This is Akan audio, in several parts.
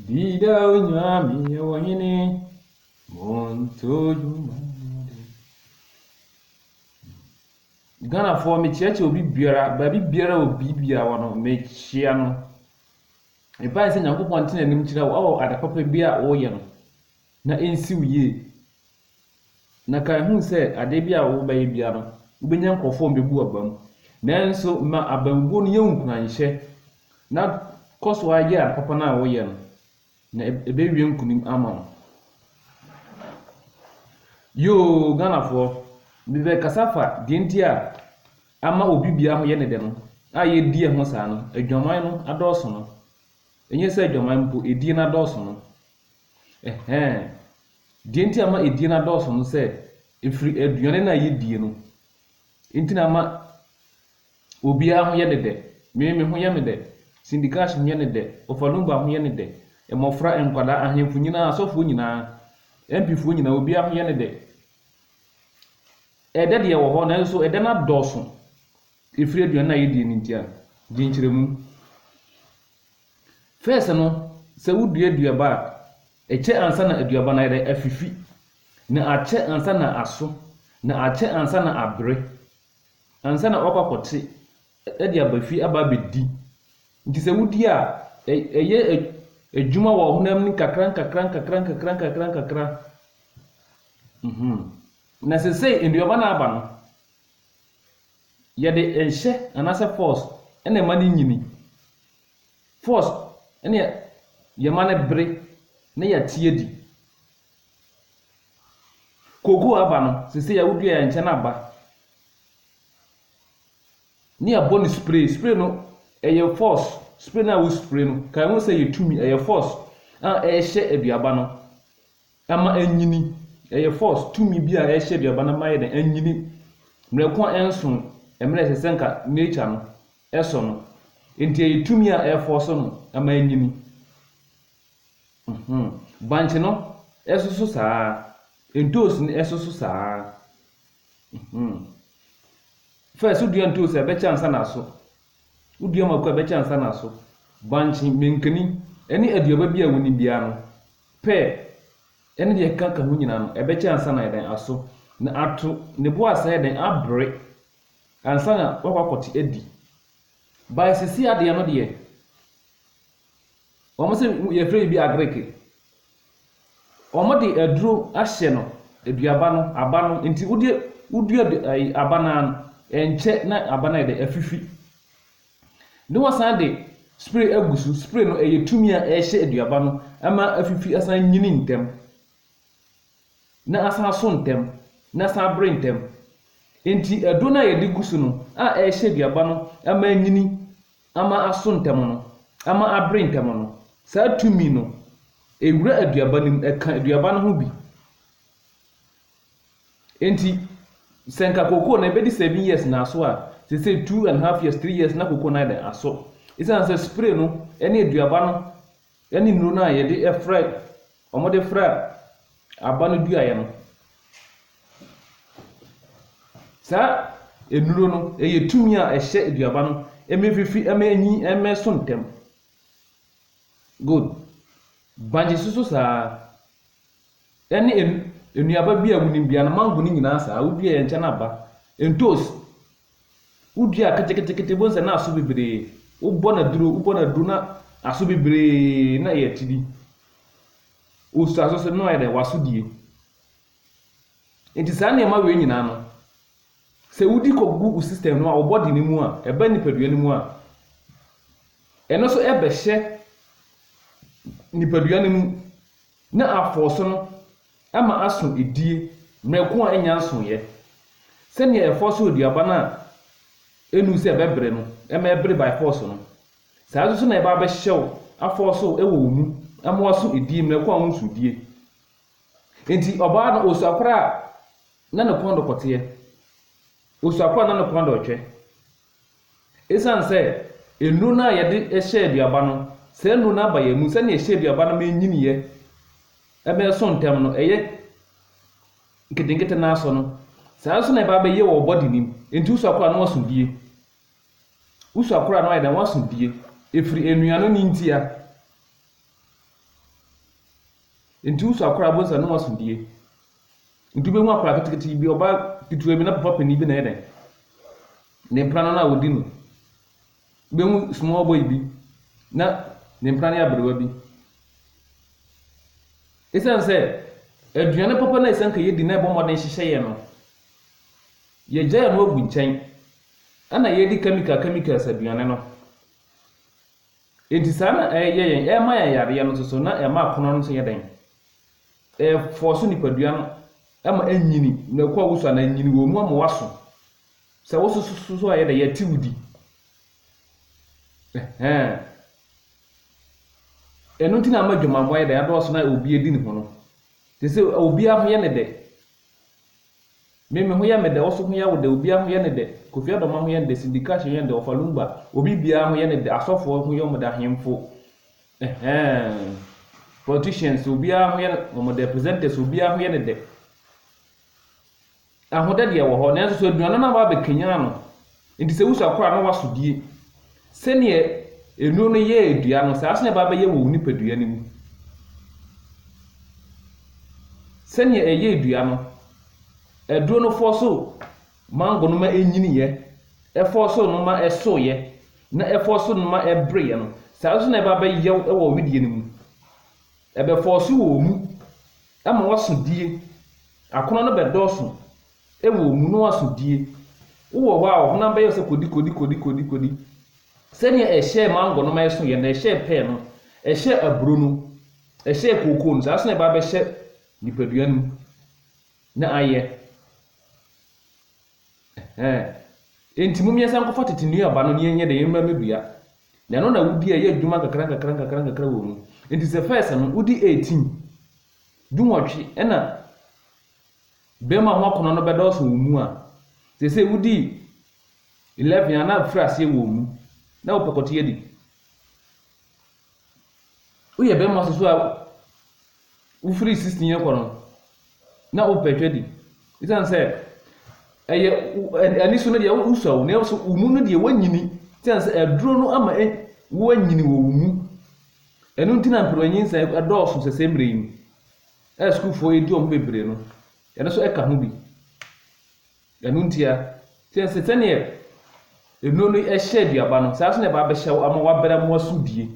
Dida onyame yɛ wɔ hene montojuma de. Ghanafoɔ mekyeakyɛ obi biara baabi biara obi biara wɔ no mekyea no. Mepae sɛ Nyankopɔn ntena anim kyerɛ wo ɛwɔ ade papa bi a woyɛ no na ɛnsi wo yie. Na kae hu sɛ ade biara a wobɛyɛ biara no, wubenya nkurɔfo a wɔbebu abam. Nanso ma abamubuo no yɛ wo nkuranhyɛ, na kɔ so ara yɛ ade papa no a woyɛ no, na ɛbɛwie nkonim ama wo. Yoo, Ghanafoɔ, mebɛkasa afa deɛ nti a ama obi biara ho yɛ ne dɛ no, a yɛredi ɛho saa no, adwaman no adɔɔso no. Ɛnyɛ sɛ adwaman mpo, edie no adɔɔso no. Ɛhɛɛ. Deɛ nti a ama edie no adɔɔso no sɛ ɛfiri aduane no a yɛdie no nti na ama obiara ho yɛ no dɛ. Me, me ho yɛ me dɛ. Cindy Cash ho yɛ no dɛ. Ofalumba ho yɛ no dɛ. Mmɔfra, nkwadaa, ahemfo nyinaa, asɔfoɔ nyinaa, MP foɔ nyinaa, obiara ho yɛ no dɛ. Ɛdɛ deɛ wɔ hɔ nanso ɛdɛ no adɔɔso ɛfiri aduane no a yɛdie no nti a. Gye nkyerɛmu. First no, sɛ wodua aduaba a, ɛkyɛ ansa na aduaba no ayɛ dɛ, afifi, na akyɛ ansa na aso, na akyɛ ansa na abere, ansa na wakɔ akɔte de aba fie aba abɛdi. Nti sɛ wodi a, ɛyɛ adwuma wɔ ɔhonam ni kakra nkakra nkakra nkakra nkakra nkakra. Mm-hmm. Na sesei nnuaba no aba no, Yɛde nhyɛ anaasɛ pɔs na ɛma no nyini. Pɔs ne yɛma no bere na yɛate adi. Kookoo aba no, seesei a wodua yɛn nkyɛn aba ne yɛabɔ no spray. Spray no ɛyɛ pɔs, spray no a wo spray no, kae ho sɛ ɛyɛ tumi, ɛyɛ pɔs a ɛrehyɛ aduaba no ma ɛnyini. Ɛyɛ force, tumi bi a ɛhyɛ aduaba no ma ayɛ dɛn, anyini. Mmerɛ ko a ɛnso mmerɛ a ɛsɛ sɛ nka nature no ɛsɔ no. Nti ɛyɛ tumi a ɛ force no ma anyini. Mhmm. Bankye no nso so saa ara. Ntoosi no nso so saa ara. Mhmm. First wodua ntoosi a ɛbɛkyɛ ansa na aso. Wodua mako a ɛbɛkyɛ ansa na aso. Bankye, mankani, ɛne aduaba bi a wonim biara no. pɛ, ne deɛ ɛkeka ka ho nyinaa no, ɛbɛkyɛ ansa na ayɛ dɛn? Aso na ato, ne bo asan ayɛ dɛn? Abere, ansa na woakɔ akɔte adi. By sisi adeɛ no deɛ, wɔn se yɛfrɛ biribi agreke. Wɔn de aduro ahyɛ no, aduaba no, aba no, nti wode wodua ɛyi aba no ara no, ɛnkyɛ na aba no ayɛ dɛn? Afifi. Ne wɔsan de spray agu so. Spray no ɛyɛ tumi a ɛhyɛ aduaba no ma afifi asan nyini ntɛm, na asan aso ntɛm, na asan abere ntɛm. Enti ɛdo no a yɛde gu so no a ɛhyɛ aduaba no ma anyini, ama aso ntɛm no, ama abere ntɛm no, saa tumi no, ɛwura aduaba no mu, ɛka aduaba no ho bi. Enti sɛ nka kooko no ɛbɛdi seven years na aso a, seesei two and half years, three years na kooko no ayɛ dɛn? Aso. Esiane sɛ spray no ne aduaba no ne nnuro no a yɛde fra, wɔde fra aba no duaeɛ no, saa nnuro no yɛ tumi a ɛhyɛ aduaba no ma efifi, ma enyin, ma ɛso ntɛm. Good. Bankye nso so saa ara. Ɛne nnuaba bi a wonim bia no mango no nyinaa saa wodua yɛ nkyɛn aba. Ntoos wodua keteketekete bohu sɛ na aso bebree wobɔ no aduro wobɔ no aduro na aso bebree na ɛyɛ ti bi. Wosu aso so na ayɛ dɛ waso die. Nti saa nneɛma wei nyinaa no sɛ wodi kɔgu wo system no a wo body no mu a ɛba nipadua no mu a ɛno so ɛbɛhyɛ nipadua no mu Ne afɔɔ so no ma aso edie mmerɛ ko a ɛnnya nsoeɛ, sɛdeɛ yɛfɔɔ so aduaba no a ɛnnuu sɛ ɛbɛbere no ma ɛbere by force no, saa ara nso na yɛba abɛhyɛ wo afɔɔ so wɔ wo mu ma woaso edie mmerɛ ko a wonso edie. Enti ɔbaa no osuakorɔ a na ne kɔn dɔ kɔteɛ, osuakorɔ a na ne kɔn dɔ retwɛ. Esiane sɛ nnuru no a yɛde hyɛ aduaba no, saa nnuru no aba yɛn mu sɛnea ɛhyɛ aduaba no ma enyiniiɛ ma ɛso ntɛm no, ɛyɛ nketenkete no ara so no, saa ara nso na ɛba abɛyɛ wɔ wo body no mu. Enti wo suakora no aso die. Wo suakora no ayɛ dɛn? Waso die. Ɛfiri nnuane no ntia. Enti wo suakora, wobɛhu sɛ ne ho aso die. Nti wobɛhu akwadaa ketekete bi, ɔbaa ketewa bi, na papa panin bi na ɛyɛ dɛn? Ne mpena no na ɔdi no. Wobɛhu small boy bi, na ne mpena no yɛ aberewa bi. Ɛsiane sɛ aduane papa no a ɛsɛ nka yɛdi na ɛbɔ mmɔden hyehyɛ yɛn no, yɛgyae no agu nkyɛn, ɛna yɛdi chemical chemicals aduane no. Enti saa na ɛyɛ yɛn, ɛma yɛn yareɛ no nso so, na ɛma akono no nso yɛ dɛn? Ɛfɔɔso nipadua no ma ɛnyini, na ɛkɔ awusu anaa ɛnyini wɔ mu ama waso. Sɛ wososo so a ɛyɛ dɛn? Yɛte wo di. Ɛhɛn. Ɛno nti na ama adwamammɔ ayɛ dɛn? Adɔɔso na obi adi ne ho no. Te sɛ obiara ho yɛ ne dɛ. Me me ho yɛ me dɛ, wo so ho yɛ wo dɛ, obiara ho yɛ no dɛ, Kofi Adomah ho yɛ no dɛ, Cindy Crash ho yɛ no dɛ, Ɔfa Lumba, obi biara ho yɛ no dɛ, asɔfoɔ ho yɛ wɔn dɛ, ahemfo, eh-hɛn, politicians obiara ho yɛ no wɔn dɛ, presenters obiara ho yɛ no dɛ. Ahodɛ deɛ ɛwɔ hɔ, nanso so aduane no a wɔabɛkanyan no, Enti sɛ wusua koro a na woaso die. Sɛnea nnuru no yɛɛ dua no, saa ara nso na ɛba abɛyɛ wɔ wo nipadua no mu. Sɛnea ɛyɛɛ dua no, aduro no fɔɔ so mango no ma enyiniiɛ, ɛfɔɔ so no ma ɛsoeɛ, na ɛfɔɔ so no ma ɛbereeɛ no, saa ara nso na ɛba abɛyɛ wo wɔ wo wedeɛ no mu. Ɛbɛfɔɔ so wɔ wo mu ama woaso die. Akɔnnɔ no bɛdɔɔso Wɔ omunoa so die. Wowɔ hɔ a ɔhonam bɛyɛ wo sɛ kodi kodi kodi kodi kodi. Sɛnea ɛhyɛɛ mango no ma ɛsoeɛ no, ɛhyɛɛ pear no, ɛhyɛɛ aburo no, ɛhyɛɛ kookoo no, saa nso na ɛba abɛhyɛ nipadua no mu na ayɛ. Ɛhɛn. Enti mo mmiɛnsa nkɔfa tete nnuaba no na yɛnyɛ dɛ yɛmmra mmɛdua. Na ɛno na wodi a ɛyɛ adwuma nkakra nkakra nkakra nkakra wɔ mu. Enti sɛ first no wodi 18, dunwɔtwe, ɛna Bɛrima ho akɔnnɔ no bɛdɔɔso wo mu a, seesei wodi eleven a na afiri aseɛ wɔ wo mu, na wopɛ kɔteɛ di. Woyɛ bɛrima soso a wofiri sixteen rekɔ no, na wopɛ atwa di. Esiane sɛ ɛyɛ wo- ɛ- ani so no deɛ wo- wosua wo, nanso wo mu no deɛ woanyini. Esiane sɛ aduro no ama ɛ- woanyini wɔ wo mu. Ɛno nti na mperewanyinsɛn dɔɔso sɛsɛɛ mmerɛ yi mu. a sukuufoɔ yi di wɔn ho bebree no, ɛno nso ka ho bi. Ɛno ntia, sɛ sɛ sɛdeɛ nnuro no hyɛ aduaba no, saa nso na ɛba abɛhyɛ wo ama wabere ama wasu die.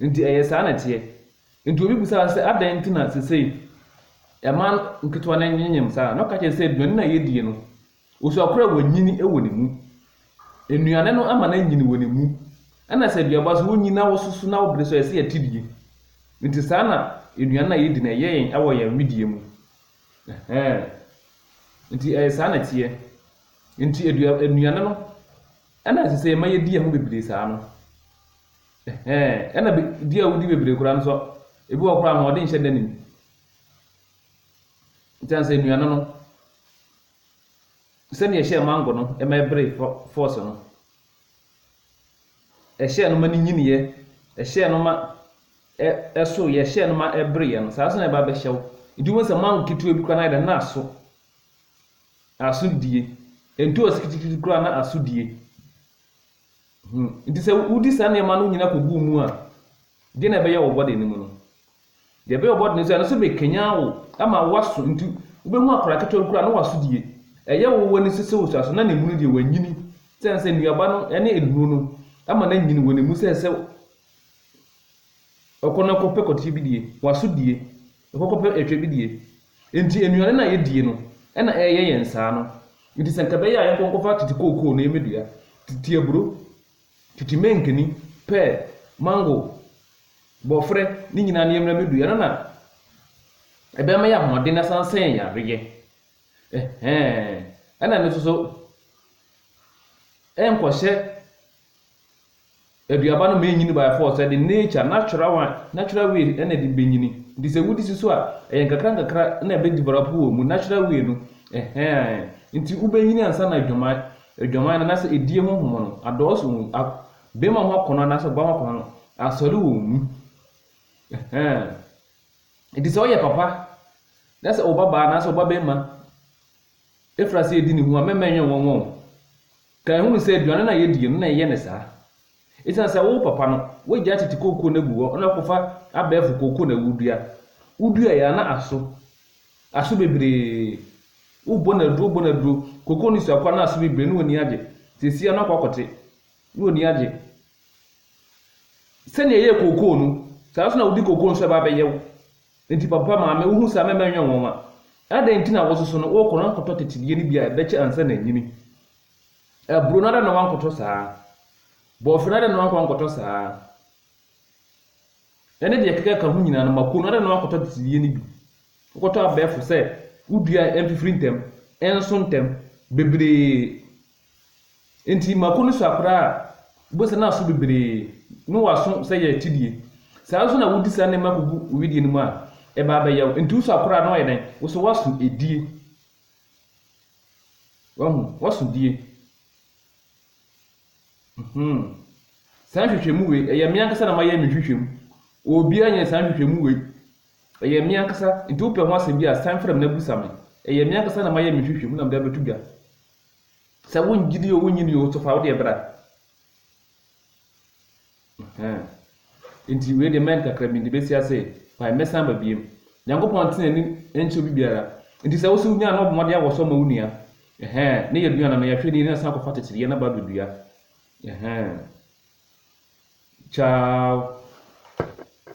Nti ɛyɛ saa na ɛteɛ. Nti obi bisa wo sɛ, adɛn nti na sesei ɛma nketewa no nyenyem saa? Na ɔka kyerɛ sɛ aduane no a yɛdie no, Osuo koro a wɔnyin wɔ ne mu. Nnuane no ma no anyin wɔ ne mu. Ɛna sɛ aduaba nso wonyin na wososo na wobere nso ɛsɛ yɛte die. Nti saa na nnuane no a yɛdi no ɛyɛ yɛn wɔ yɛn wedeɛ mu. Ɛhɛɛ. Nti ɛyɛ saa na ɛteɛ. Nti adua nnuane no ɛna ɛsɛ sɛ yɛma yɛdi ɛho bebree saa no. Ɛhɛɛ. Ɛna be di a wodi bebree koraa nso ebi wɔ koraa ahoɔden nhyɛ da ne mu. Nti ansa nnuane no. Sɛnea ɛhyɛɛ mango no ma ɛberee fɔɔse no, ɛhyɛɛ no ma no nyiniiɛ, ɛhyɛɛ no ma ɛsoeɛ, ɛhyɛɛ no ma ɛbereeɛ no, saa ara nso na ɛba bɛhyɛ wo. Nti wobɛhu sɛ mango ketewa bi koraa no ayɛ dɛn? Na aso. Aso die. Ntoosi ketekete koraa na aso die. Hmm. Nti sɛ wodi saa nneɛma no nyinaa kɔgu wo mu a, deɛ na ɛbɛyɛ wɔ bɔde no mu no. Deɛ ɛbɛyɛ ɔbɔdene sɛ ɛno so bɛkanyan wo ama woaso nti wobɛhu akwadaa ketewa bi koraa na waso die. Ɛyɛ wo w'ani sese wo suaso na ne mu no deɛ wanyini sɛne sɛ nnuaba no ne nnuro no ama no anyini wɔ ne mu sɛ sɛ ɔkɔ no kɔpɛ kɔteɛ bi die, waso die, ɔkɔ kɔpɛ ɛtwɛ bi die. Nti nnuane no a yɛdie no ɛna ɛyɛ yɛn saa no. Nti sɛ nka ɛbɛyɛ a yɛnkɔ nkɔfa tete kookoo no yɛmmɛdua, tete aburo, Tete mankani, pear, mango, borɔferɛ ne nyinaa ne yɛmmra bɛdui. Ɛno na ɛbɛma yɛ ahoɔden na san sɛ yɛn yareɛ. Ɛhɛɛ, ɛna no nso so ɛnkɔhyɛ aduaba no ma ɛnyini by force, ɛde nature, natural one, natural way ɛna ɛde bɛnyini. Nti sɛ wodi si so a, ɛyɛ nkakra nkakra na ɛbɛ develop wɔ mu, natural way no. Ɛhɛɛ, nti wobɛnyini ansa na adwaman. Adwaman no, anaasɛ edie ho nhoma no, adɔɔso wɔ mu. A Bɛrima ho akɔnnɔ anaasɛ ɔbaa ho akɔnnɔ no, asɔre wɔ mu. Ɛhɛɛ. Enti sɛ woyɛ papa na sɛ wo babaa anaasɛ wo babarima firi aseɛ di ne ho a, mɛma ɛnyɛ nwonwa o. Ka ɛhunu sɛ aduane no a yɛdi no na ɛyɛ no saa. Esiane sɛ wo papa no, w'agya tete kooko no agu hɔ na wakɔfa abɛɛfo kooko na wudua. Wuduae a, na aso. Aso bebree. Wobɔ no aduro, wobɔ no aduro. Kooko no sua koraa na aso bebree na w'ani agye. Seesei ara no akɔ akɔte na w'ani agye. Sɛnea ɛyɛɛ kooko no, saa nso na wode kooko nso ɛba abɛyɛ wo. Enti papa, maame, wuhu saa mɛma ɛnyɛ nwonwa. Adɛn nti na wososo no, wokɔ na woakɔtɔ tetedeɛ no bi a ɛbɛkyɛ ansa na anyini? Aburo no adɛn na woankɔtɔ saa? Bɔɔhwɛ no adɛn na woankɔ ankɔtɔ saa? Ɛne deɛ ɛkeka ka ho nyinaa no, mako no adɛn na woankɔtɔ adesideɛ no bi? Wokɔtɔ abɛɛfo sɛ wodua a ɛmfifiri ntɛm, ɛnso ntɛm, bebree. Enti mako no so akora a, wobɛhu sɛ na aso bebree, na wɔaso sɛ yɛ atidie. Saa ara nso na wodi saa nneɛma kɔgu wo wedeɛ no mu a, ɛba abɛyɛ wo. Enti woso akora a, na wayɛ dɛn? Wo so woaso edie. Wahu, wɔso die. Mm-hmm. Saa nhwehwɛmu wei, ɛyɛ me ankasa na mayɛ me nhwehwɛmu. Obiara nyɛ saa nhwehwɛmu wei. Ɛyɛ me ankasa, nti wopɛ ho asɛm bi a, san frɛ me na busa me. Ɛyɛ me ankasa na mayɛ me nhwehwɛmu na mede abɛto dwa. Sɛ wongyidi o, wonyi ni o, so fa wo deɛ bra. Ɛhɛɛ. Enti wei deɛ mɛn kakra bi nti bɛsi ase pae mɛsan aba biem. Nyankopɔn nte n'ani nkyɛ obi biara. Nti sɛ wose wonya a na ɔbɔ mmɔden awɔsɔ ma wo nua. Ɛhɛɛ. Ne yɛ duan ano yɛ hwɛ nie na san kɔfa kyekyere yɛ na ba abɛdua. Ɛhɛɛ. Ciao.